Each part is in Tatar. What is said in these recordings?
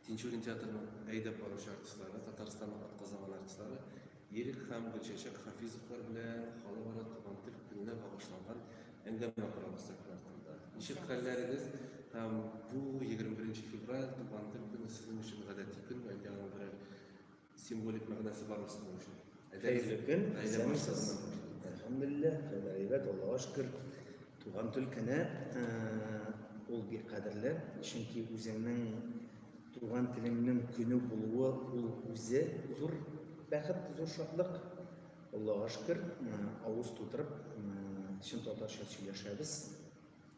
Тинчурин театрының әйдәп баручы артистлары, Татарстанның атказанган артистлары Ирек һәм Гөлчәчәк Хафизовлар белән халыкара туган тел көненә багышланган әңгәмә корабыз сәхнә артында. Ничек хәлләрегез һәм бу 21 февраль туган тел көне сезнең өчен гадәти көнме, әллә аның берәр Символик мәгънәсе бар мисал өчен. Хәерле көн. Исәнмесез. Әлхәмдулилла, хәлләр әйбәт, Аллага шөкер. Туган төлкене ул бик кадерле, чөнки үзеңнең туган телеңнең көне булуы ул үзе зур бәхет, зур шатлык. Аллага шөкер, авыз тутырып, чын татарча сөйләшәбез.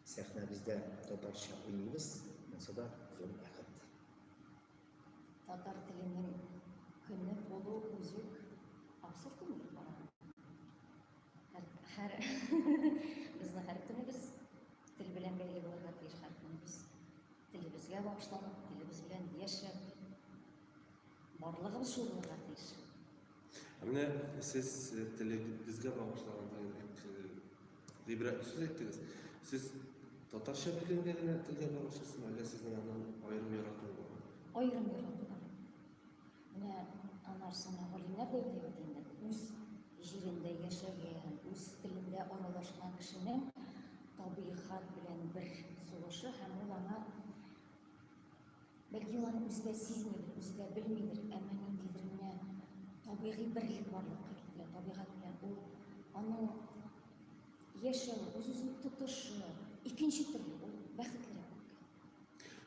Сәхнәбездә татарча уйныйбыз, монсы да зур бәхет. Татар теленең көне булу үзек абсурд булып бара. Һәр безнең һәр көнебез тел белән бәйле булырга тиеш һәр көнебез. Телебезгә багышланып, телебез белән яшәп, барлыгыбыз шул булырга тиеш. Менә сез телегезгә багышланган Гыйбрәтле сүз әйттегез. Сез татарча белгәнгә генә телгә багышлыйсызмы, әллә сезнең аннан аерым яратуы бар? Аерым ярату бар. Менә анар соңа галимнәр дә әйтә бит инде, үз җирендә яшәгән, үз телендә аралашкан кешенең табигать белән бер сулышы һәм ул аңа Бәлки ул аны үзе дә сизмидер, үзе дә белмидер, әмма ниндидер менә табигый берлек барлыкка китерә, табигать белән ул аның яшәү, үз-үзен тотышы, икенче төрле ул бәхетлерәк.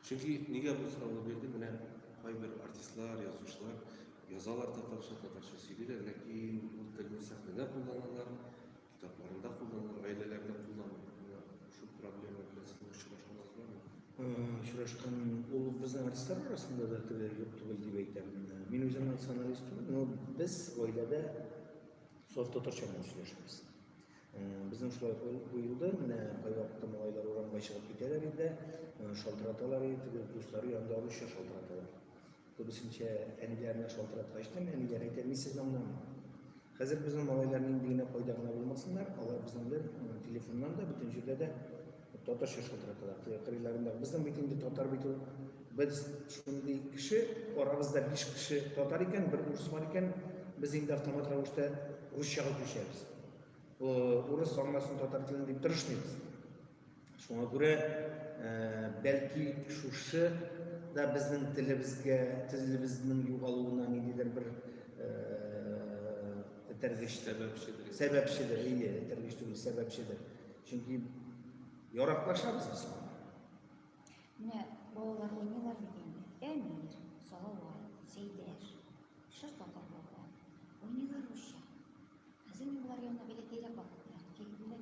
Чөнки нигә бу сорауны бирде, менә кайбер артистлар, язучылар язалар татарча, татарча сөйлиләр, ләкин ул телне сәхнәдә кулланалар, Китапларында кулланылыр, гаиләләрдә кулланылыр. Шул проблема белән сез очрашканныз бармы? Очрашкан ул безнең артистлар арасында да теге юк түгел дип әйтәм. Мин үзем националист түгел, но без гаиләдә саф татарча белән сөйләшәбез. Безнең шулай куелды, менә кайвакытта малайлар урамга чыгып китәләр инде, шалтыраталар инде, дуслары янында русча шалтыраталар. Күбесенчә әниләрне шалтыраткач та, әниләр әйтә, мин сезне аңламыйм. Хәзер безнең малайлар нинди генә кайда гына булмасыннар, алар безнең белән телефоннан да, бөтен җирдә дә татарча шалтыраталар. Кырыйларында безнең бит инде татар бит ул. Без шундый кеше, арабызда 5 кеше татар икән, бер урыс бар икән, без инде автомат рәвештә русчага күчәбез. Урыс аңласын татар телен дип тырышмыйбыз. Шуңа күрә бәлки шушы да безнең телебезгә, телебезнең югалуына ниндидер бер этәргеч сәбәпчедер. Сәбәпчедер, әйе, этәргеч түгел, сәбәпчедер. Чөнки яраклашабыз без. Менә балалар уйныйлар бит инде. Әмир, Салават, Сәйдәш, шыр татар балалар. Уйныйлар русча. Хәзер мин болар янына бәләкәйрәк вакытта килеп менә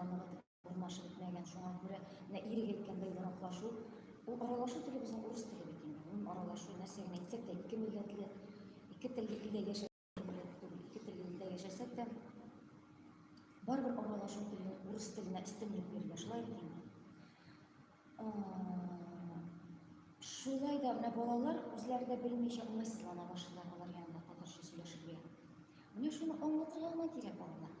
Урмашы бетмәгән, шуңа күрә менә ирек әйткәндәй яраклашу. Ул аралашу теле безнең урыс теле бит инде. Гомум аралашу нәрсә генә әйтсәк тә ике милләтле, ике телле илдә яшәп ике телле илдә яшәсәк тә барыбер аралашу теле урыс теленә өстенлек бирелә, шулай бит инде. Шулай да менә балалар үзләре дә белмичә уңайсызлана башлыйлар алар янында татарча сөйләшергә. Менә шуны аңлатырга гына кирәк балаларга.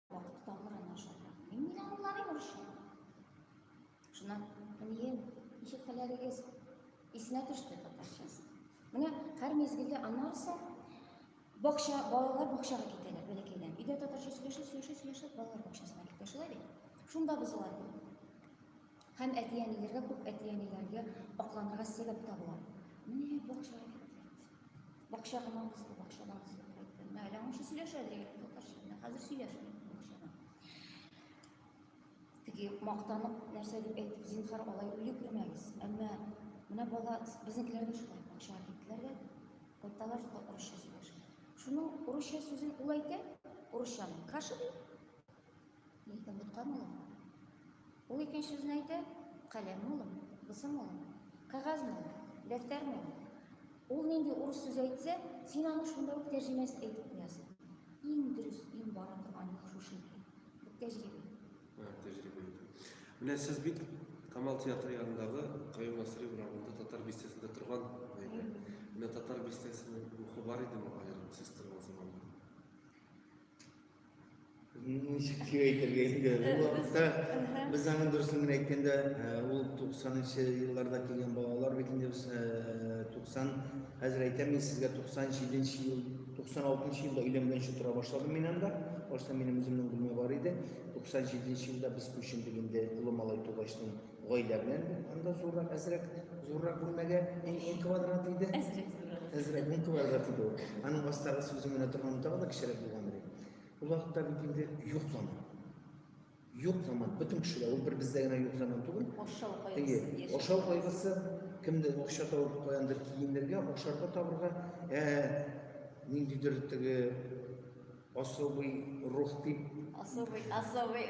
Вакыт туталмаган ашарга. Мин мин анларым урысча. Шуннан, әнием, ничек хәлләрегез? Исенә төште татарчасы. Менә һәр мезгелдә аннарса бакча, балалар бакчага китәләр бәләкәйдән. Өйдә татарча сөйләшеп, сөйләшеп, сөйләшеп балалар бакчасына китә. Шулай бит. Шунда бозыла Һәм әти-әниләргә күп әти-әниләргә акланырга сәбәп табыла. Менә бакчага китте. Бакча гына узды, бакчадан узып кайтты. Менә әле аңшы сөйләшә дигән татарча. Менә хәзер сөйләшми бакчадан. Теге мактанып нәрсә дип әйтеп, зинхар алай үле күрмәгез. Әмма менә бала безнекеләр дә шулай бакчага киттеләр дә кайталар урысча сөйләшә. Шуның урысча сүзен ул әйтә, урысчаны каша ди. Нидән тоткан улым? Ул икенче сүзне әйтә, каләм улым, бысым улым, кәгазь улым, дәфтәр улым. Ул нинди урыс сүз әйтсә, син аны шунда ук тәрҗемәсен әйтеп куясың. Иң дөрес, иң бара торган юл шушы икән. Бу тәҗрибә. Тәҗрибә. Менә сез бит Камал театры янындагы Каюм Насыйри урамында татар бистәсендә торган иде. Менә татар бистәсенең рухы бар идеме аерым сез торган заманда? ничек дип әйтергә инде ул вакытта без аның дөресен генә әйткәндә ул туксанынчы елларда килгән балалар бит инде без туксан хәзер әйтәм мин сезгә туксан җиденче ел туксан алтынчы елда өйләнгәнче тора башладым мин анда башта минем үземнең бүлмә бар иде туксан җиденче елда без күчендек инде олы малай тугачтын Гаилә белән анда зуррак, әзрәк, зуррак бүлмәгә ин квадрат иде. Әзрәк зуррак. Әзрәк ин квадрат иде. Аның астагы сүзе менә торган тагы да кечерәк булган иде. Ул вакытта бит инде юк заман. Юк заман. Бөтен кешеләр ул бер бездә генә юк заман түгел. Ашау кайгысы. Ашау кайгысы кемдә акча табып каяндыр киемнәргә, ашарга табырга, ә ниндидер теге Особый рух дип. Особый, особый.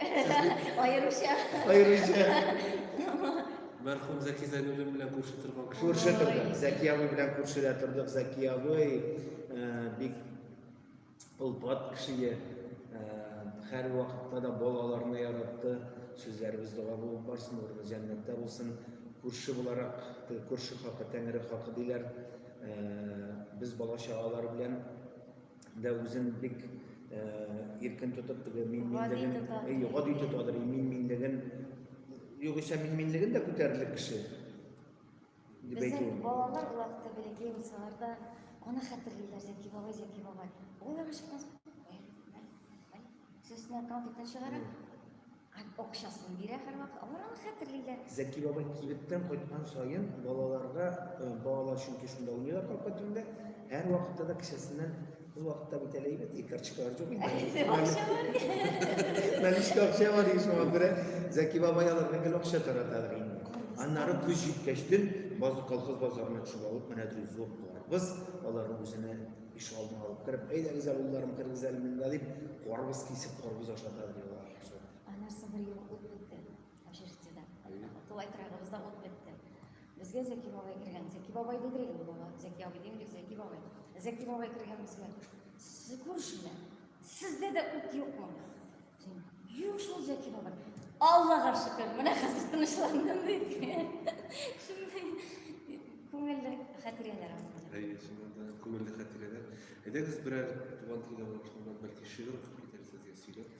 Аеруча. Аеруча. Мәрхүм Зәки Зәйнуллин белән күрше торган кеше. Күрше тордык. Зәки абый белән күршедә тордык. Зәки абый э, бик олпат кеше. Э, һәр вакытта да балаларны яратты. Сүзләребез дога булып барсын, урыны җәннәттә булсын. Күрше буларак, күрше хакы, тәңре хакы диләр. Э, без бала чагалар белән да үзен бик иркен тотып теге мин минлеген гади тотадыр мин минлеген югыйсә мин минлеген дә күтәрерлек кеше дип әйтү балалар вакыты бәләкәй булсалар да аны хәтерлиләр зәки бабай зәки бабай ул сөзне конфеттан чыгара Акчасын бирә һәрвакыт, алар аны хәтерлиләр. Зәки бабай кибеттән кайткан саен балаларга, э, балалар чөнки шунда уйныйлар капка төбендә, һәрвакытта да кесәсеннән ул вакытта бит әле әйбәт, и карточкалар юк инде. Акча бар. Наличка акча бар иде шуңа күрә Зәки бабай аларга гел акча тараталар инде. Аннары көз җиткәч төн базы колхоз базарына төшеп алып, менә ди зур карбыз, аларны үзенә ишегалдына алып кереп, әйдәгез әле улларым, керегез әле монда дип, карбыз кисеп, карбыз ашата ди алар. Ә нәрсә бер ел ут бетте общежитиедә. Тулай торагыбызда ут бетте. Безгә Зәки бабай кергән. Зәки бабай диде инде бала. Зәки абый димли, Зәки бабай. Зәки бабай кергән безгә. Сез күршеләр. Сездә дә ут юкмы? Юк шул Зәки бабай. Аллага шөкер, менә хәзер тынычландым диде. Шундый күңелле хәтирәләр алды. Әйе, шуннан да күңелле хәтирәләр. Әйдәгез берәр туган телгә булып, бәлки шигырь укып китәрсез, я сөйләп.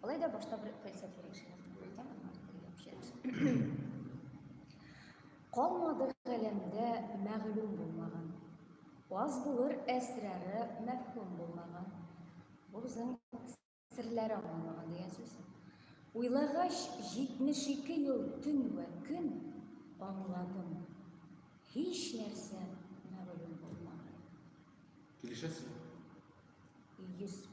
Алай да башта бер фәлсәфи рәвешенә куйдым, аннары телгә күчерәбез. Калмады галәмдә мәгълүм булмаган. Аз булыр әсрары мәфһүм булмаган. Бу безнең серләре аңламаган дигән сүз. Уйлагач, 72 ел төн вә көн аңладым. Һич нәрсә мәгълүм булмаган. Килешәсезме? 100%.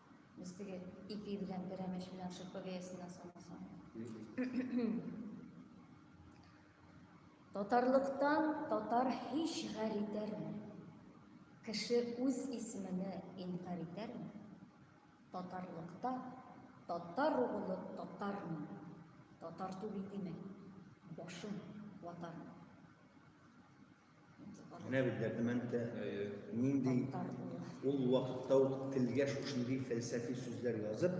Без теге ипи белән берәмәч белән шырпы бәясенә салмасаң. Татарлыктан татар һич гар итәрме? Кеше үз исемене инкар итәрме? Татарлыкта татар углы татармы? Татар түгел димәк, башым ватармы? Менә бит дәрдемәндә нинди ул вакытта ук телгә шушындый фәлсәфи сүзләр язып,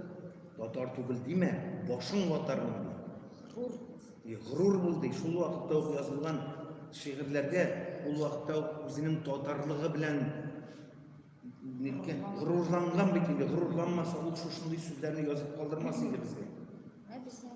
татар түгел димә, башың ватармын ди. Гур. И гурур бул ди. Шул вакытта ук язылган шигырьләргә ул вакытта ук үзенең татарлыгы белән ниткән горурланган бит инде. Горурланмаса ул шушындый сүзләрне язып калдырмас инде безгә. Ә безгә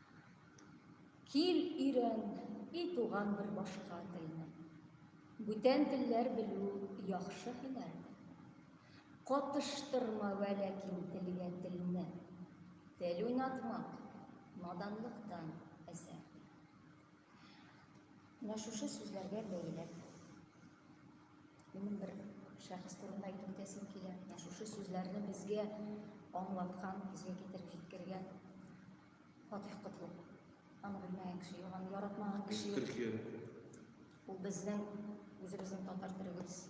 Кил өйрән, и туган бер башка телне. Бүтән телләр белү яхшы һөнәр. Катыштырма вә ләкин телгә телне. Тел уйнатмак, наданлыктан әсәр. Менә шушы сүзләргә бәйләп, минем бер шәхес турында әйтеп үтәсем килә. Менә шушы сүзләрне безгә аңлаткан, безгә китереп җиткергән Фатих Котлов. Аны белмәгән кеше юк, аны яратмаган кеше юк. Төркия. Ул безнең үзебезнең татар төрегебез.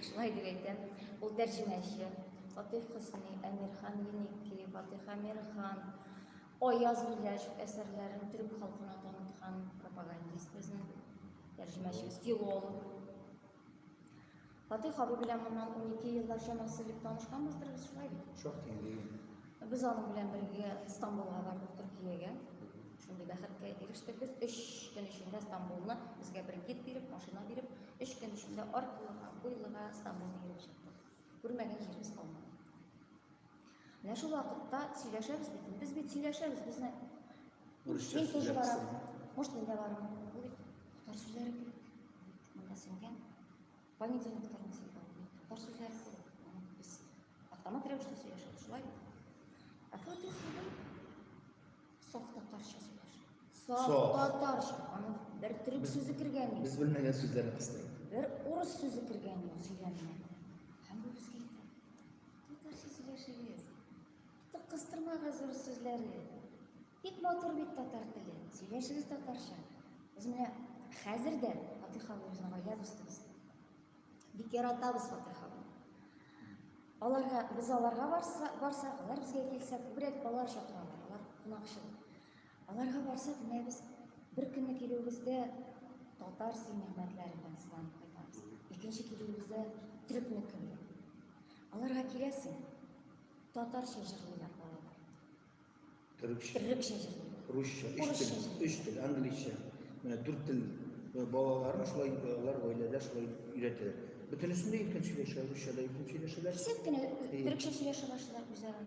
Шулай дип әйтәм. Ул тәрҗемәче. Фатих Хөсни, Әмирхан Еники, Фатих Әмирхан, Аяз Миләшев әсәрләрен төрек халкына таныткан пропагандист безнең тәрҗемәчебез, филолог. Фатих абый белән моннан 12 еллар чамасы элек танышканбыздыр без шулай бит. Шок дигән. Без аның белән бергә Стамбулга бардык Төркиягә. Шундый бәхеткә ирештек без. 3 көн эчендә Стамбулны безгә бер гид биреп, машина биреп, 3 көн эчендә аркылыга, буйлыга Стамбулны йөреп чыктык. Күрмәгән җиребез калмады. Менә шул вакытта сөйләшәбез бит. Без бит сөйләшәбез, безне Урысча Мин тоже барам. Может, мин дә барам. Ул бит татар сүзләре кирәк. Монда сеңгән. Понедельниктарны сыйган. Татар сүзләре кирәк. Без автомат рәвештә сөйләшәбез, шулай бит. А вот ты сидел, соф татарча сөйләш. Соф татарча. Аны бер төрек сүзе кергән юк. Без белмәгән сүзләрне кыстырып. Бер урыс сүзе кергән юк сөйләмгә. Татарча сөйләшегез. Тик кыстырмагыз зур сүзләре. Бик матур бит татар теле. Сөйләшегез татарча. Без менә хәзер дә Фатих ханым безнең гаилә дустыбыз. Бик яратабыз Фатих ханым. Аларга без аларга барса, барса, алар безгә килсә, күбрәк алар чакыралар. Алар кунакчыл. Аларга барсак, менә без бер көнне килүебездә татар сыйнәгатьләре белән сыланып кайтабыз. Икенче килүебездә төрекне килде. Аларга киләсең, татарча җырлыйлар балалар. Төрекчә. Төрекчә җырлыйлар. Русча, өч тел, өч тел, английча. Менә дүрт тел э, балаларын шулай э, алар гаиләдә шулай өйрәтәләр. Бөтенесендә иркен сөйләшә, русча да иркен сөйләшәләр. Сез генә төрекчә сөйләшә башлыйлар үзара.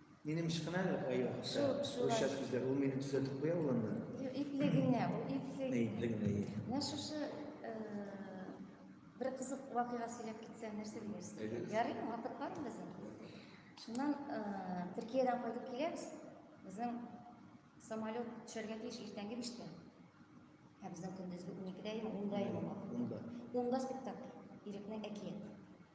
Минем ышкына да кая ошо. Ошо сүзләр ул мине төзәтеп куя ул анда. Юк, ипле генә, ул ипле. Ни ипле генә. Менә шушы э, бер кызык вакыйга сөйләп китсә нәрсә диясез? Ярыймы? Вакыт бармы безнең? Шуннан э, Төркиядән кайтып киләбез. Безнең самолет төшәргә тиеш иртәнге биштә. Ә безнең көндезге уникедә, ундаймы? Унда. Унда спектакль. Ирекнең әкият.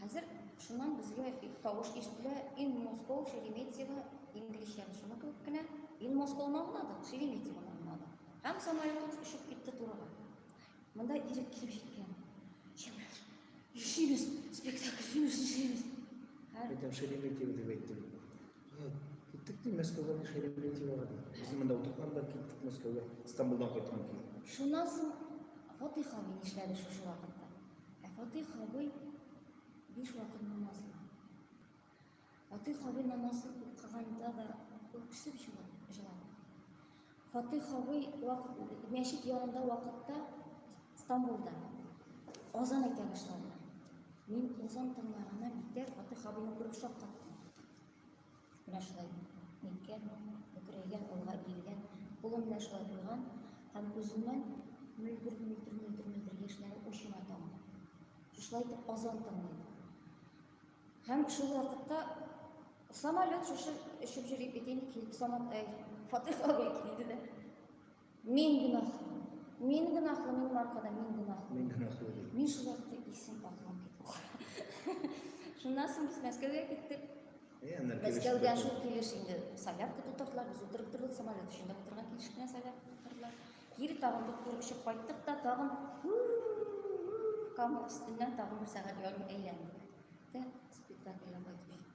Хәзер шуннан безгә тавыш ишетелә, in Moscow, Шереметьево, инглизчән шуны кебек кенә, in Moscow надо, Шереметьево надо. Һәм самолет очып китте турыга. Монда ирек килеп җиткән. Чемраш, ишибез, спектакль ишибез, ишибез. Әйтәм, Шереметьево дип әйттем. Киттек ди, Мәскәүгә ди, Шереметьевоға ди. Без монда утырткан да киттек Мәскәүгә, Стамбулдан кайткан ки. Шуннан соң Фатыйха мин эшләде шушы вакытта. Ә Фатих абый биш вакыт намаз укый. Фатих абый намаз укыганда да үксеп җылап. Фатих абый вакыт мәчет янында вакытта Стамбулда азан әйтә башлады. Мин азан тыңлаганнан битәр Фатих абыйны күреп шаккаттым. Менә шулай ниткән, бөкрәйгән, алга иелгән, кулым белән шулай куйган һәм күземнән мөлдер, мөлдер, мөлдер, мөлдер яшьләре очына тамган. Шулай итеп азан тыңлыйм. Һәм шул вакытта самолет шушы очып йөри бит инде килеп самолет, фатих абый килде дә. Мин гөнаһлы. Мин гөнаһлы, минем аркада мин гөнаһлы. Мин гөнаһлы. Мин шул вакытта исем аклап киттем. Шуннан соң без Мәскәүгә киттек. Мәскәүгә шул килеш инде солярка тутырдылар, без утырып тордык, самолет эчендә утырган килеш кенә солярка тутырдылар. Кире тагын туктырып очып кайттык та, тагын камыр өстеннән тагын бер сәгать ярым әйләндек. Дә спектакльгә кайтып җиттек.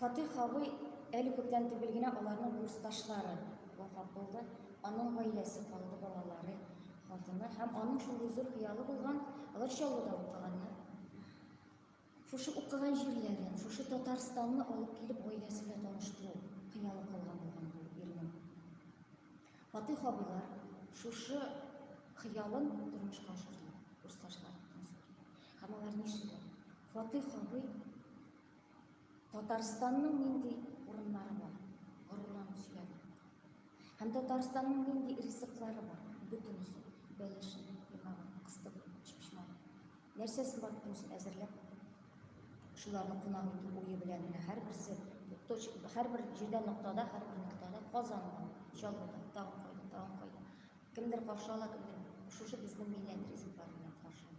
Фатыйх абый, әле күптән түгел генә аларның курсташлары вафат булды. Аның гаиләсе калды, балалары, хатыны һәм аның шундый зур хыялы булган, алар Чаллыда укыганнар. Шушы укыган җирләрен, шушы Татарстанны алып килеп гаиләсе белән таныштыру хыялы калган булган бу ирнең. Фатыйх абыйлар шушы хыялын тормышка ашырды, курсташлары. Һәм алар нишлиләр? Фатыйх абый Татарстанның нинди урыннары бар? Горурланып сөйләде. Һәм Татарстанның нинди ризыклары бар? Бөтенесе. Бәлешен, пимагын, кыстып, чүпчман. Нәрсәсен бар бөтенесен әзерләп, шуларны кунак итү уе белән генә һәрберсе һәрбер җирдә ноктада, һәрбер ноктада казанга, чалбыда, тагын кайда, тагын кайда. Кемдер каршы ала, кемдер шушы безнең милләт ризыклары белән каршы ала.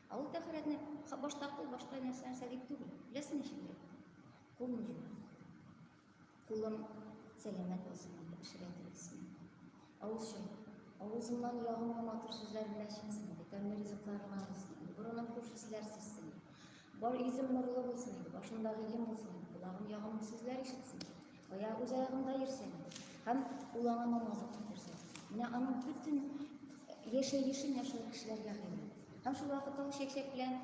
Ә ул тәхәрәтне башта кул, башта нәрсә нәрсә дип түгел. Беләсең ничек дип? Кул ни? Кулым сәламәт булсын дип пешерә дилсең. Авыз чын. Авызымнан ягымлы матур сүзләр генә чыксын дип, тәмле ризыкларыма булсын. Борыным хуш исләр сизсен. Бар йөзем нурлы булсын, башымдагы ем булсын, колагым ягымлы сүзләр ишетсен. Кая үз аягында йөрсен, һәм ул аңа намазлык күрсә. Менә аның бөтен яшәешен яшәү кешеләргә хәйлә. Һәм шул вакытта ул чәкчәк белән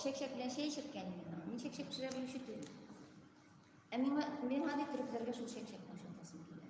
чәкчәк белән чәй эчеп кәни. Мин чәкчәк пешерә белүче түгел. Ә миңа миңа бит төрекләргә шул чәкчәк машинкасын килә.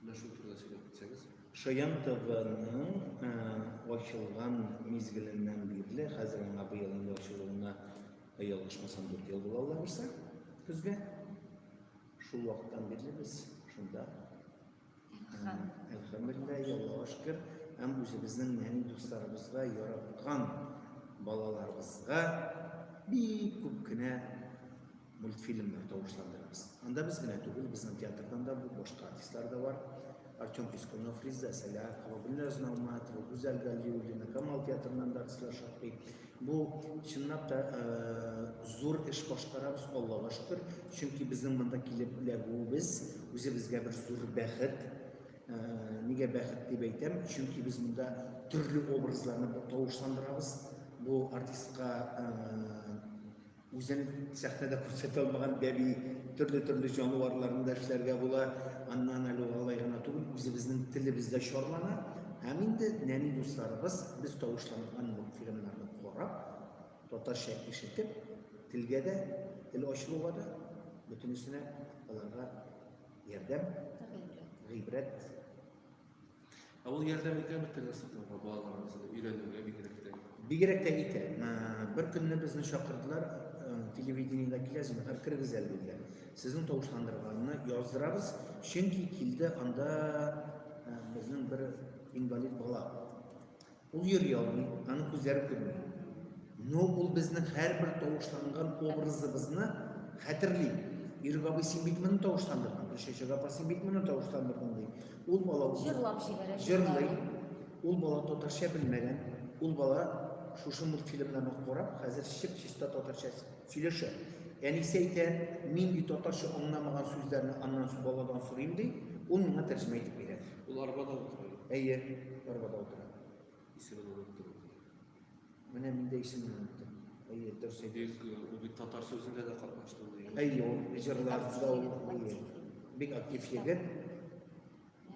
Менә шул турыда сөйләп үтсәгез. Шаян ТВның э, ачылган мизгеленнән бирле, хәзер аңа быел инде ачылуына э, ялгышмасам 4 ел була ала берсә, көзгә. Шул вакыттан бирле без шунда Әлхәмдулилла, Аллаһуга шөкер, һәм үзебезнең нәни дусларыбызга, яраткан балаларыбызга бик күп кенә мультфильмнар тавышландырабыз. Анда без генә түгел, безнең театрдан да бу башка артистлар да бар. Артем Пискунов, Риза Сәләхова, Гүлназ Науматова, Гүзәл Галиуллина, Камал театрыннан да артистлар шактый. Бу чынлап та э, зур эш башкарабыз, Аллага шөкер. Чөнки безнең монда килеп эләгүебез үзебезгә бер зур бәхет. Э, нигә бәхет дип әйтәм? Чөнки без монда төрле образларны тавышландырабыз. Бу артистка э, Үзен сәхнәдә күрсәтә алмаган бәби, төрле-төрле җанварларны да эшләргә була. Аннан әле алай гына түгел, үзебезнең телебез дә чарлана. Һәм инде нәни дусларыбыз без тавышланган мультфильмнарны карап, татарча ишетеп, телгә дә, тел ачылуга да бөтенесенә аларга ярдәм, гыйбрәт Ә ул ярдәм итә бит тынычлыкка, балаларыбызны өйрәнүгә бигрәк тә. Бигрәк тә итә. Бер көнне безне чакырдылар, телевидениедә килә, зинһар кергез әле диделәр. Сезнең тавышландырганны яздырабыз, чөнки килде анда безнең бер инвалид бала. Ул йөр ялмый, аның күзләре күрми. Но ул безнең һәрбер тавышланган образыбызны хәтерли. Ирек абый, син бит моны тавышландырдың, Гөлчәчәк апа, син бит моны тавышландырдың ди. Ул бала җырлап җибәрә. Җырлый. Ул бала татарча белмәгән. Ул бала шушы мультфильмнарны карап, хәзер чип-чиста татарча Сөйләшә. Әнисе әйтә, нинди татарча аңламаган сүзләрне аннан су баладан сорыйм ди, ул миңа тәрҗемә итеп бирә. Ул арбада утыра. Әйе, арбада утыра. Исемен оныттым. Менә мин дә исемен оныттым. Әйе, дөрес әйтәсез. Ул бит татар сүзендә дә катнашты. Әйе, ул җырларда ул бик актив егет.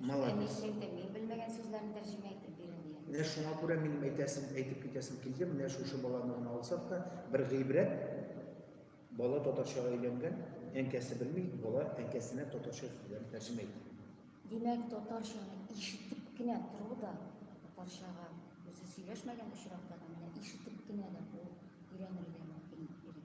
Шулай дисең дә, мин белмәгән сүзләрне тәрҗемә итеп бирәм дигән. Менә шуңа күрә минем әйтәсем, әйтеп китәсем килде, менә шушы баланы гына алсак та, бер гыйбрәт, бала татарчага өйләнгән, әнкәсе белми, бала әнкәсенә татарча сүзләрен тәрҗемә итә. Димәк, татарчаны ишетеп кенә тору да, татарчага үзе сөйләшмәгән очракта да, менә ишетеп кенә дә ул өйрәнергә мөмкинлек бирә.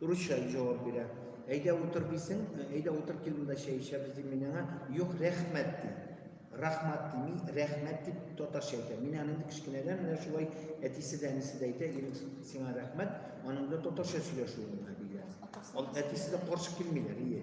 Урысча җавап бирә. Әйдә утыр дисең, э, әйдә утыр кил монда чәй эчәбез дим мин аңа. Юк, рәхмәт ди. Рахмат дими, рәхмәт дип татарча әйтә. Мин аны инде кечкенәдән менә шулай әтисе дә, әнисе дә әйтә, Ирек, сиңа рәхмәт, аның да татарча сөйләшүе миңа бигрәк. Атасы Ал- Әтисе дә каршы килмиләр, ие.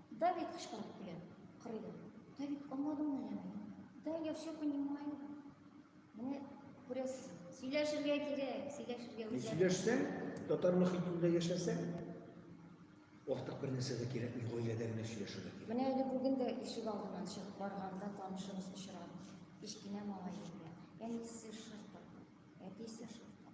Давид кычкырып көлә. Кырыйда. Давид, аңладыңмы әллә мине? Да, я все понимаю. Менә күрәсез, сөйләшергә кирәк, сөйләшергә Мин үзләре. сөйләшсәң, татар мөхитендә яшәсәң, артык бер нәрсә дә кирәкми, гаиләдә генә сөйләшергә кирәк. Менә әле бүген дә ишек алдыннан чыгып барганда танышыбыз очрады. Кечкенә малай иде. Әнисе шырпы, әтисе шырпы.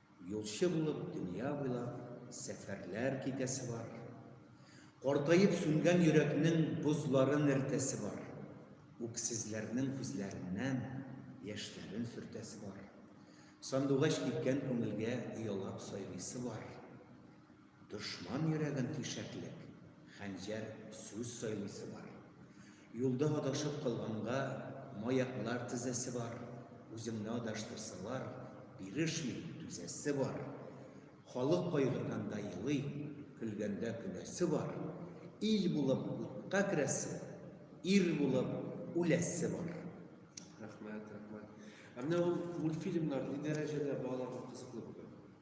Юлчы булып дөнья буйлап сәфәрләр китәсе бар. Картаеп сүнгән йөрәкнең бозларын эртәсе бар. Үксезләрнең күзләреннән яшьләрен сөртәсе бар. Сандугач киткән күңелгә оялап сайрыйсы бар. Дошман йөрәген тишәклек, хәнҗәр сүз сайлыйсы бар. Юлда адашып калганга, маяклар тезәсе бар. Үзеңне адаштырсалар, бирешми, түзәсе бар. Халык кайгырганда елый, көлгәндә көләсе бар. Ил булып утка керәсе, ир булып үләсе бар. Рәхмәт, рәхмәт. Ә менә ул мультфильмнар ни дәрәҗәдә балаларга кызыклы бүген?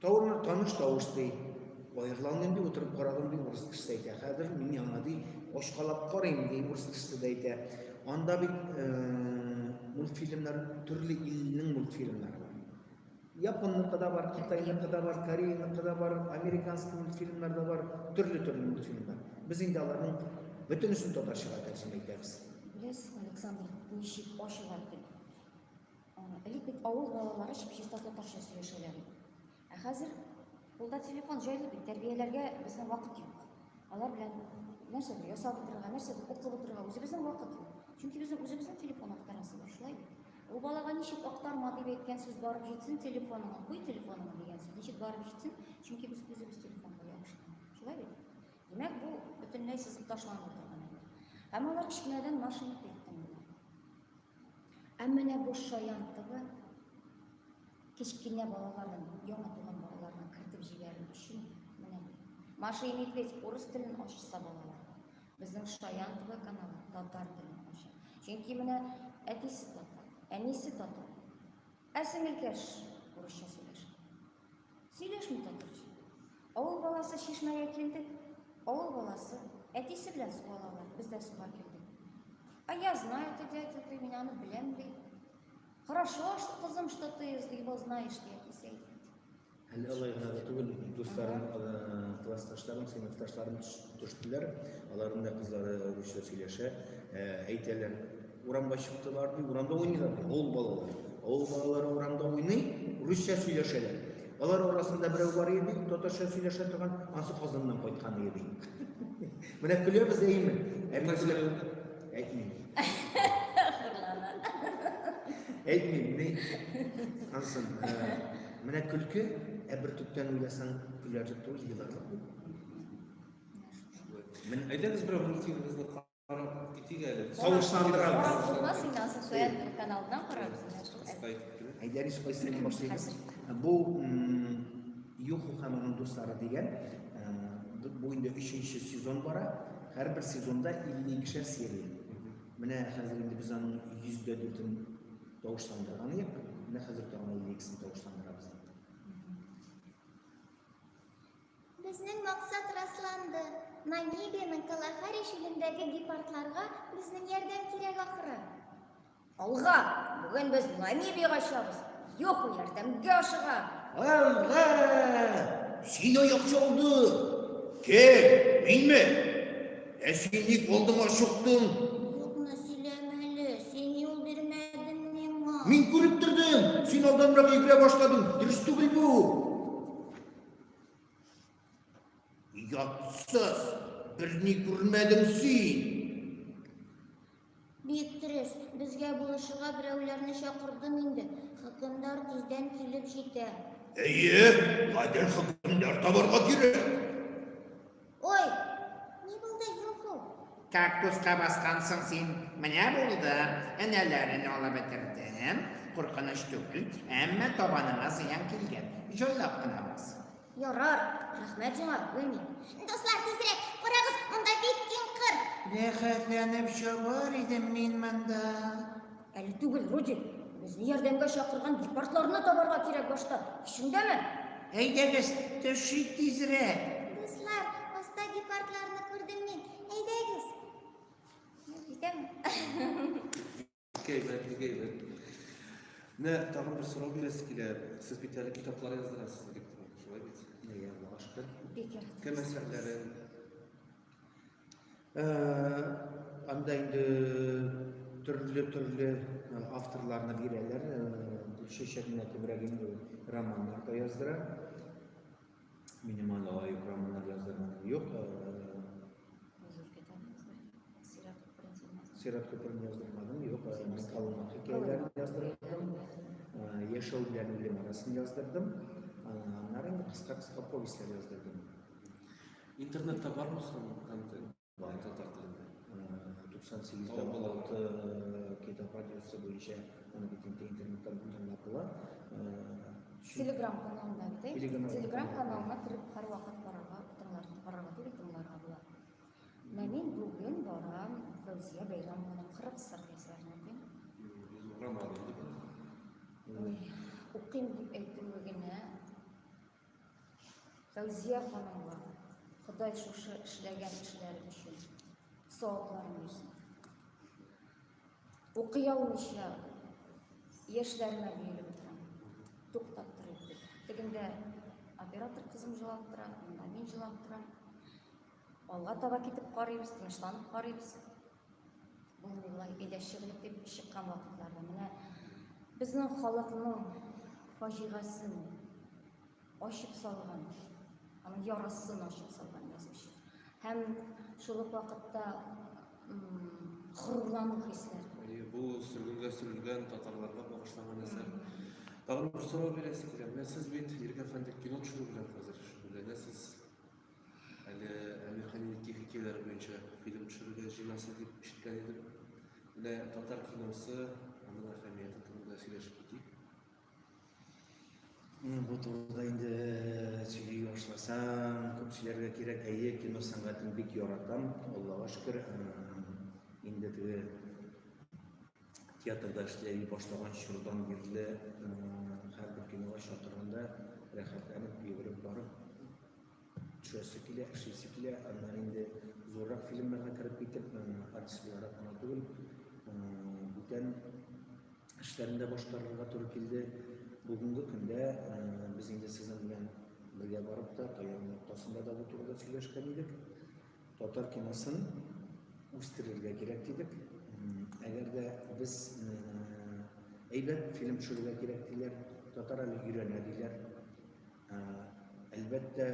Тауны таныш тавыш ди. Аерлан инде утырып карадым ди урыс кешесе әйтә. Хәзер мин яңа ди очкалап карыйм ди урыс кешесе дә әйтә. Анда бит э, мультфильмнар төрле илнең мультфильмнары бар. Японныкы да бар, Китайныкы да бар, Кореяныкы да бар, американский мультфильмнар да бар, төрле-төрле мультфильмнар. Без инде аларның бөтенесен татарчага тәрҗемә итәбез. Беләсезме, Александр, ничек ачыла тел? Элек бит авыл балалары чип-чиста татарча сөйләшәләр иде. Ә хәзер кулда телефон җайлы бит, тәрбияләргә безнең вакыт юк. Алар белән нәрсәдер ясап утырырга, нәрсәдер укып утырырга үзебезнең вакыт юк. Чөнки безнең үзебезнең телефон актарасы бар, шулай бит. Ул балага ничек актарма дип әйткән сүз барып җитсен, телефоныңа куй, телефоныңа дигән сүз ничек барып җитсен, чөнки без үзебез телефонга ябышкан. Шулай бит. Димәк, бу бөтенләй сызып ташланып утырган. Һәм алар кечкенәдән машина тиктем. Ә менә бу шаян тыгы кечкенә балаларның, яңа туган балаларның кертеп җибәрү өчен менә Маша и медведь урыс телен ачса балалар. Безнең шаян тыгы каналы татар телен ача. Чөнки менә әтисе татар, әнисе татар. Ә сеңелкәш урысча сөйләшә. Сөйләшми дә торчы. Авыл баласы чишмәгә килдек. Авыл баласы әтисе белән су алалар. Без дә суга килдек. А я знаю это дядя, ты меня ну белем ди. Хорошо, что кызым, что ты его знаешь, ди әтисе әйтә. Әле алай гына да түгел, дусларым, э, классташларым, сыйныфташларым төш- төштеләр. Аларның да кызлары русча сөйләшә, э, әйтәләр. Урамга чыктылар, ди, урамда уйныйлар, ди, авыл балалары. Авыл балалары урамда уйный, русча сөйләшәләр. Алар арасында берәү бар иде, татарча сөйләшә торган, ансы Казаннан кайткан иде. Менә көләбез әйме? Әмма көлә. Әйтмим. Әйтмим, ни? Ансын, менә көлке, ә бер төптән уйласаң, көләрлек түгел, еларлык. Мен әйдәгез берәү мультфильмыбызны Китик әле. Тавышландырабыз. Карап булмас инде, Асыл Соят каналыннан карарбыз менә шул. Кыска итеп кенә. Әйдә, без кайсыннан башлыйбыз? Бу м, Юху һәм аның дуслары дигән э, бу- бу инде өченче сезон бара. Һәрбер сезонда 52-шәр серия. Менә хәзер инде без аның 104-ен тавышландырган идек. Менә хәзер тагын 52-сен тавышландырабыз. Безнең максат расланды. Намибиянең Калахари чүлендәге гепардларга безнең ярдәм кирәк ахры. Алга! Бүген без Намибиягә чыгабыз. Йоху ярдәмгә ашыга. Алга! Сине яхшы алды. Кем? Минме? Ә син ник алдыма чыктың? Юкны сөйләмә әле. Син юл бирмәдең миңа. Мин күреп тордым. Син алданрак йөгерә башладың. Дөрес түгел бу. Ятсыз, берни күрмәдең син. Бик дөрес, безгә булышырга берәүләрне чакырдым инде. Хөкемдар тиздән килеп җитә. Әйе, гадел хөкемдар табарга кирәк. Ой, не булды Юсу? Кактуска баскансың син, менә булды. Энәләрен алып бетердем. Куркыныч түгел, әмма табаныңа зыян килгән. Җайлап кына бас. Ярар, рәхмәт сиңа, Гүлми. Дуслар, тизрәк, карагыз, монда бик киң кыр. Рәхәтләнеп чабар идем мин монда. Әле түгел, Рудик. Безне ярдәмгә чакырган гепардларны табарга кирәк башта. Исеңдәме? Әйдәгез, төшик тизрәк. Дуслар, аста гепардларны күрдем мин. Әйдәгез. Китәме? Кәйбәт, кәйбәт. Менә тагын бер сорау бирәсе килә. Сез бит әле китаплар яздырасыз, Виктор, шулай бит? Бекер. Кем әсәрләрен, Э, анда инде төрле-төрле э, авторларны бирәләр. Гөлчәчә э, генә күбрәк инде романнар да яздыра. Минем анда лаек романнар яздырган юк. Сират Күперен яздырмадым, юк, мин Калума хикәяләрен яздырдым, Яшәү белән үлем арасын яздырдым, аннары инде кыска-кыска повестьлар яздырдым. Интернетта бармы соң контент? Бар татар телендә. 98 дә балалты китап радиосы буенча аны бит инде интернетта тыңлап була. Телеграм каналында бит. Телеграм каналына кереп һәрвакыт карарга, тыңларга, карарга түгел, тыңларга була. Менә мин бүген барам Фәүзия Бәйрәмованың 40 сыр әсәрен укыйм. Укыйм дип әйтүе генә Фәүзия ханымга Ходай шушы эшләгән эшләре өчен савапларын бирсен. Укый алмыйча яшьләренә бөелеп торам. Туктап торыйк дип. Тегендә оператор кызым җылап тора, монда мин җылап торам. Алга таба китеп карыйбыз, тынычланып карыйбыз. Булмыйлар, өйдә чыгылып дип чыккан вакытларда менә безнең халыкның фаҗигасын ачып салган, аның ярасын ачып салган язучы. Һәм шул ук вакытта горурлану хисләре. Әйе, бу сөргенгә сөрелгән татарларга багышланган әсәр. Тагын бер сорау бирәсе килә. Менә сез бит Ирек әфәнде кино төшерү белән хәзер шөгыльләнәсез. Әле Әмир Хәнинең тихий тияләре буенча фильм төшерергә җыенасы дип ишеткән идем. Менә татар киносы, аның әһәмияте турында сөйләшеп китик. Бу турыда инде сөйли башласам, күп сөйләргә кирәк. Әйе, кино сәнгатен бик яратам. Аллага шөкер, инде теге театрда эшләй башлаган чордан бирле һәрбер кинога чакырганда рәхәтләнеп йөгереп барып төшәсе килә, эшлисе килә, аннан инде зуррак фильмнарга кереп китеп, артист буларак кына түгел, бүтән эшләрендә башкарырга туры килде. Бүгенге көндә без инде сезнең белән бергә барып та, таян ноктасында да бу турыда сөйләшкән идек. Татар киносын үстерергә кирәк дидек. Әгәр дә без әйбәт фильм төшерергә кирәк диләр, татар әле өйрәнә диләр. Әлбәттә,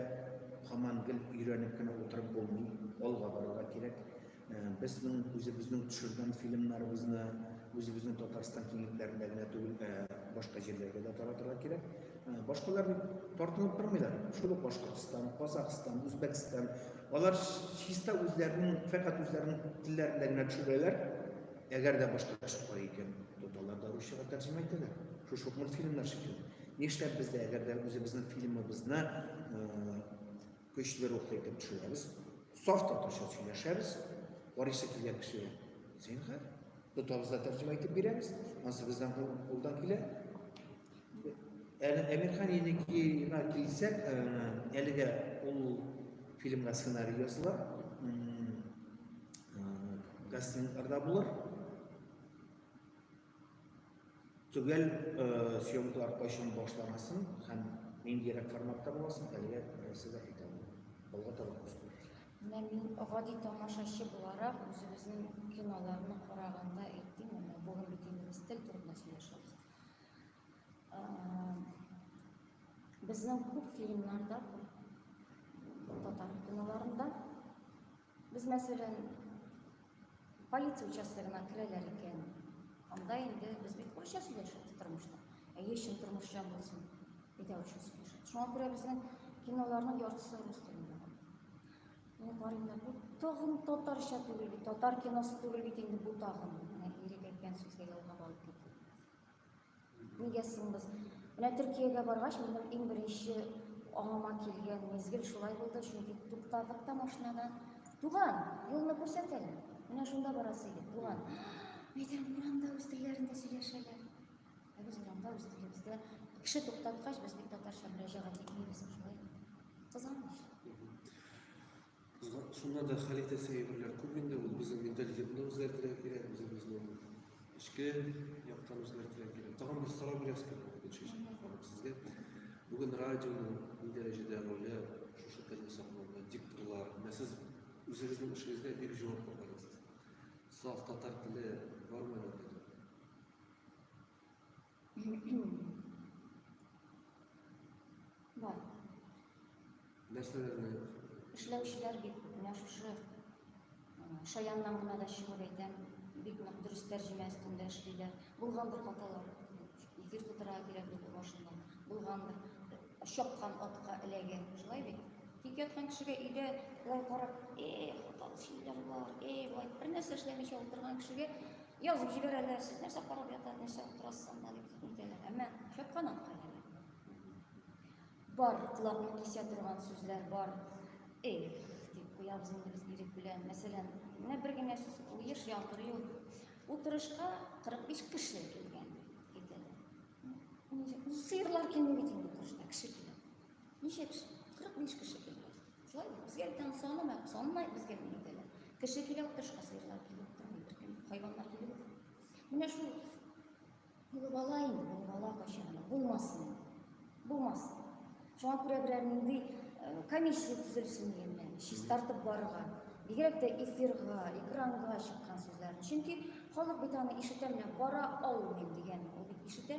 һаман гел өйрәнеп кенә утырып булмый, алга барырга кирәк. Безнең үзебезнең төшергән фильмнарыбызны үзебезнең Татарстан киңлекләрендә генә түгел, башка җирләргә дә таратырга кирәк. Башкалар тартынып тормыйлар. Шул ук Башкортстан, Казахстан, Үзбәкстан. Алар чиста үзләренең, фәкать үзләренең телләрендә генә төшерәләр. Әгәр дә башка төшеп кара икән, тоталар да русчага тәрҗемә итәләр. Шушы ук мультфильмнар шикелле. Нишләп без дә әгәр дә үзебезнең фильмыбызны көчле рухлы итеп төшерәбез, саф татарча сөйләшәбез, карыйсы килгән кешегә зинһар, тотабыз да тәрҗемә итеп бирәбез, ансы бездән кулдан килә. Әле Әмирхан Еникеевна килсәк, әлегә ул фильмга сценарий языла, кастингларда булыр. Төгәл съемкалар кайчан башланасын һәм ниндирәк форматта буласын әлегә берәрсе дә әйтә алмый. Алга таба күзәтү. Менә мин гади тамашачы буларак үзебезнең киноларны караганда әйтим, менә бүген бит инде без тел турында сөйләшәбез. Безнең күп фильмнарда, татар киноларында Без, мәсәлән, полиция участогына керәләр икән, анда инде без бит урысча сөйләшәбез тормышта. Әйе, чын тормышча булсын, әйдә урысча сөйләшәбез. Шуңа күрә безнең киноларның яртысы рус телендә. Менә карыйм да, бу тагын татарча түгел бит, татар киносы түгел бит инде бу тагын. Менә ирек әйткән сүзгә ялгап алып китте. Нигә соң без? Менә Төркиягә баргач, минем иң беренче аңыма килгән мизгел шулай булды, чөнки туктадык та машинаны. Туган, юлны күрсәт әле. Менә шунда барасы иде, туган. Мәйтәм, урамда үз телләрендә сөйләшәләр. Ә без урамда үз телебездә кеше туктаткач, без бит татарча мөрәҗәгать итмибез шулай. Кызганыч. Шунда да хәл итәсе әйберләр күп инде, ул безнең менталитетны үзгәртергә кирәк, безнең безнең эчке яктан үзгәртергә кирәк. Тагын бер сорау бирәсез кебек, Гөлчәчәк ханым, сезгә. Бүген радионың ни дәрәҗәдә роле шушы телне саклауда, дикторлар, менә сез үзегезнең эшегезгә бик җавап аласыз. Саф татар теле бармы әле? Бар. Нәрсәләрне? Эшләүчеләр бит менә шушы шаяннан гына да чыгып әйтәм, бик нык дөрес тәрҗемә өстендә эшлиләр. Булгандыр хаталар. Эфир тутырырга кирәк булды башында. Булгандыр. Чапкан атка эләгә. Шулай бит? Тик яткан кешегә өйдә былай карап, эй, хаталы сөйләм бар, эй, былай бер нәрсә эшләмичә утырган кешегә Язып җибәрәләр, сез нәрсә карап ята, нәрсә утырасыз анда дип әйтәләр. Әмма шәп канат кайнар. Бар, колакны кисә торган сүзләр бар. Эх, дип куябыз инде без ирек белән. Мәсәлән, менә бер генә сүз куеш яңгыр юк. Утырышка 45 кеше килгән әйтәләр. Сыерлар килми бит инде утырышта, кеше килә. Ничә кеше? 45 кеше килде. Шулай безгә бүтән санамай, санамай безгә ни итәләр. Кеше килә утырышка сыерлар килеп утырмый беркем, хайваннар килеп. Менә шул булып ала инде, булып ала кайчан. Булмасын. Булмасын. Шуңа күрә берәр нинди э, комиссия төзелсен дигәннәр. Чистартып барырга. Бигрәк тә эфирга, экранга чыккан сүзләрне. Чөнки халык бит аны ишетә менә бара алмыйм дигән, ул бит ишетә.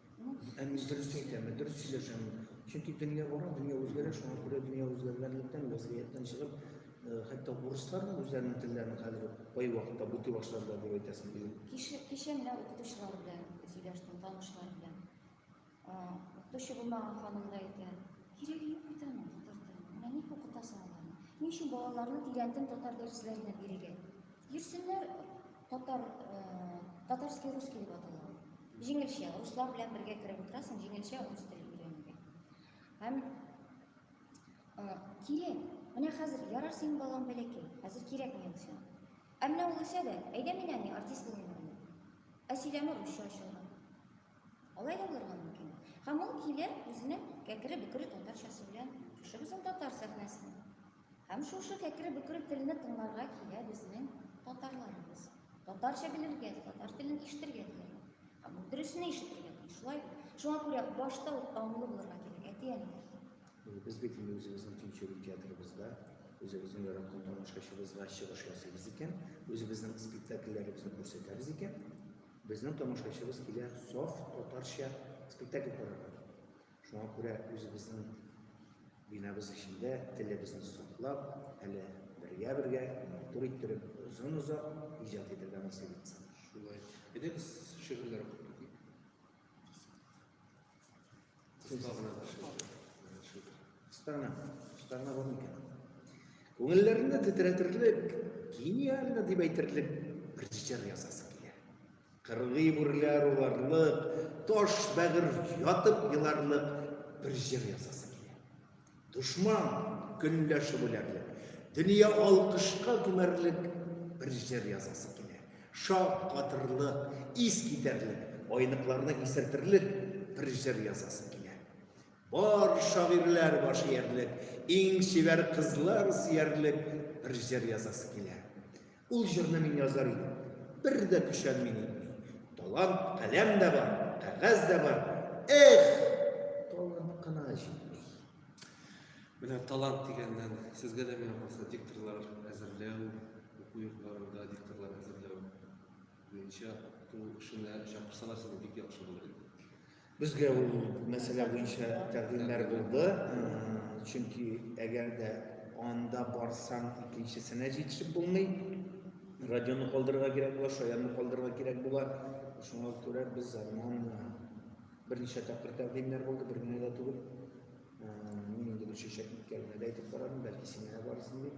Ә мин дөрес әйтәм, мин дөрес сөйләшәм. Чөнки дөнья бара, дөнья үзгәрә, шуңа күрә дөнья үзгәргәнлектән, вазгыятьтән чыгып, э, хәтта урыслар да үзләренең телләрен хәзер кай вакытта бути башларда дип әйтәсең бит. Кеше кеше менә укытучылар белән сөйләштем, танышлар белән. Э, укытучы булмаган ханым да әйтә, кирәге юк бит аның татар теле. Менә ник укытасың аларны? Ни өчен балаларны тирәнтен татар дәресләренә бирегә? Йөрсеннәр татар, э, татарский русский дип атала. Җиңелчә, руслар белән бергә кереп утырасың, җиңелчә рус теле өйрәнергә. Һәм э, кирәк. Менә хәзер ярар синең балаң бәләкәй, хәзер кирәк мин син. Ә менә ул үсә дә, әйдә мин әни артист булыйм әле. Ә сөйләме русча ачылган. Алай да булырга мөмкин. Һәм ул килә үзенең кәкре бөкре татарчасы белән. Шушы безнең татар сәхнәсенә. Һәм шушы кәкре-бөкре телне тыңларга килә безнең татарларыбыз. Татарча белергә, татар телен ишетергә килә. Һәм бу дөресен ишетергә тиеш. Шулай бит. Шуңа күрә башта ук аңлы булырга кирәк, әти-әниләр. Без бит инде үзебезнең тинчурин театрыбызда, үзебезнең яраткан тамашачыбызга чыгыш ясыйбыз икән, үзебезнең спектакльләребезне күрсәтәбез икән, безнең тамашачыбыз килә саф татарча спектакль карарга. Шуңа күрә үзебезнең бинабыз эчендә телебезне саклап, әле бергә-бергә матур иттереп, озын-озак иҗат итергә насыйп итсен. Шулай. Әйдә без шигырьләр укып китик. Кыска гына шигырь. Кыска гына, кыска гына бар микән? Күңелләрне тетрәтерлек, гениально дип әйтерлек бер җыр ясасы килә. Кыргый үрләр урарлык, Таш бәгырь ятып еларлык Бер җыр язасы килә. Дошман көнләшеп үләрлек, Дөнья алкышка күмәрлек Бер җыр язасы килә. Шак катырлык, ис китәрлек, Айныкларны исертерлек Бер җыр язасы килә. Бар шагыйрьләр баш иярлек, Иң чибәр кызлар сөярлек Бер җыр язасы килә. Ул җырны мин язар идем. Бер дә көчән мин итми. Талант, каләм дә бар, кәгазь дә бар. Эх, талант кына җитми. Менә талант дигәннән сезгә дә миңа калса дикторлар әзерләү, уку йортларында дикторлар әзерләү буенча ул эшенә чакырсалар сезне бик яхшы булыр иде. Безгә ул мәсьәлә буенча тәкъдимнәр булды, чөнки әгәр дә анда барсаң, икенчесенә җитешеп булмый. Радионы калдырырга кирәк була, шаянны калдырырга кирәк була. Шуңа күрә без аннан берничә тапкыр тәкъдимнәр булды, бер генә дә түгел. Мин инде бу чәчәк үткәрмәдә әйтеп карадым, бәлки сиңа барсын дип.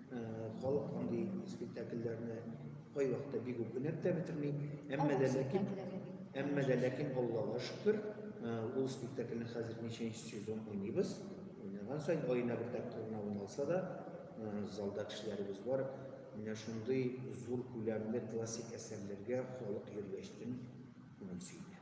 Халык андый спектакльләрне кайвакытта бик үк гүнәп тә бетерми. Әмма дә ләкин әмма дә ләкин Аллага шөкер, ул спектакльне хәзер ничәнче сезон уйныйбыз. Уйнаган саен аена бер тапкыр гына уйналса да, залда кешеләребез бар. Менә шундый зур күләмле классик әсәрләргә халык йөргәчтен күңел сөенә.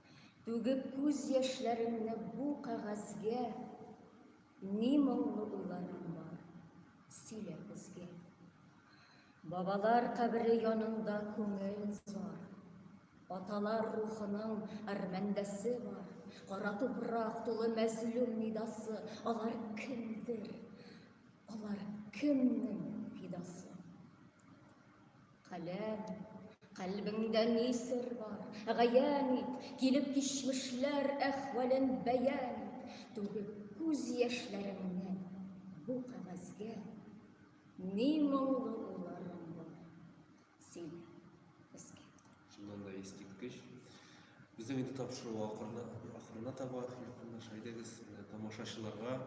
Түгеп күз яшьләремне бу кәгазьгә, Ни моңлы уйларың бар, сөйлә безгә. Бабалар кабере янында күңел зар, Аталар рухының әрмәндәсе бар, Кара тупрак тулы мәзлум нидасы, Алар кемдер, алар кемнең фидасы? Каләм, калбиңдә ни сер бар, гаян ит, килеп кичмешләр әхвален бәян ит, түгеп күз яшьләреңне бу кагазгә, ни моңлы уйларың бар, сөйлә безгә. Шуннан да искиткеч. Безнең инде тапшыру ахырына, ахырына таба якынлаша. Әйдәгез, тамашачыларга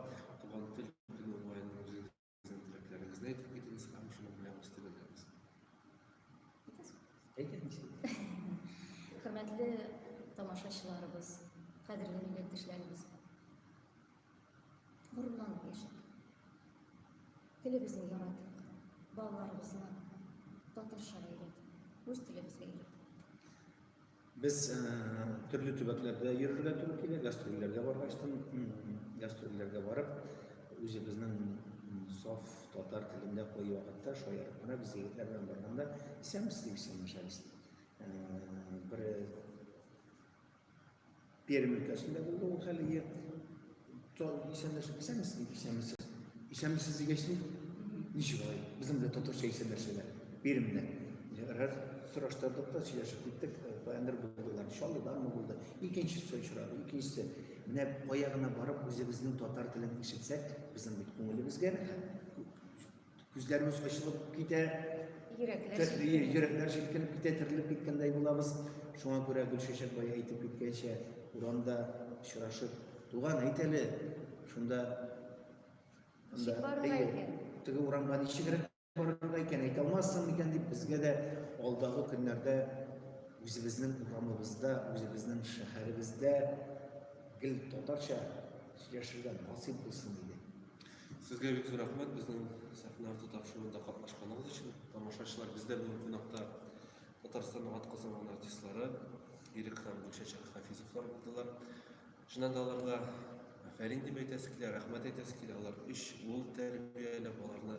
туган тел көне уңаеннан үзегез Сезнең теләкләрегезне әйтеп китегез һәм шуның белән үз теләгегез. Хөрмәтле тамашачыларыбыз, кадерле милләттәшләребез. Горурланып яшәп. Телебезне яратып, балаларыбызны татарча өйрәтеп, үз телебезгә өйрәтеп. Без э, төрле төбәкләрдә йөрергә туры килә, гастрольләргә баргач, гастрольләргә барып, үзебезнең саф татар телендә кой вакытта шаярып кына без егетләр белән барганда исәнмесез дип исәнләшәбез. Э, бер Пермь өлкәсендә булды ул хәле. Исәнләшеп, исәнмесез, исәнмесез. Исәнмесез дигәч, ничек алай? Безнең белән татарча исәнләшәләр. Пермьдә. Рәр сораштырдык та сөйләшеп киттек. Баяндыр булдылар. Чаллыданмы булды? Икенчесе очрады. Икенчесе. Менә кая гына барып үзебезнең татар телен ишетсәк, безнең бит күңелебезгә рәхәт. Күзләребез ачылып китә. Йөрәкләр җилкенеп китә, терелеп киткәндәй булабыз. Шуңа күрә Гөлчәчәк бая әйтеп киткәнчә, урамда очрашып, туган әйт әле, шунда теге урамга ничегрәк барырга икән, әйтә алмассың микән дип, безгә дә алдагы көннәрдә үзебезнең урамыбызда, үзебезнең шәһәребездә гел татарча сөйләшергә насыйп булсын иде. Сезгә бик зур рәхмәт безнең сәхнә арты тапшыруында катнашканыгыз өчен. Тамашачылар, бездә бүген кунакта Татарстанның атказанган артистлары Ирек һәм Гөлчәчәк Хафизовлар булдылар. Шуннан да аларга афәрин дип әйтәсе килә, рәхмәт әйтәсе килә. Алар өч ул тәрбияләп, аларны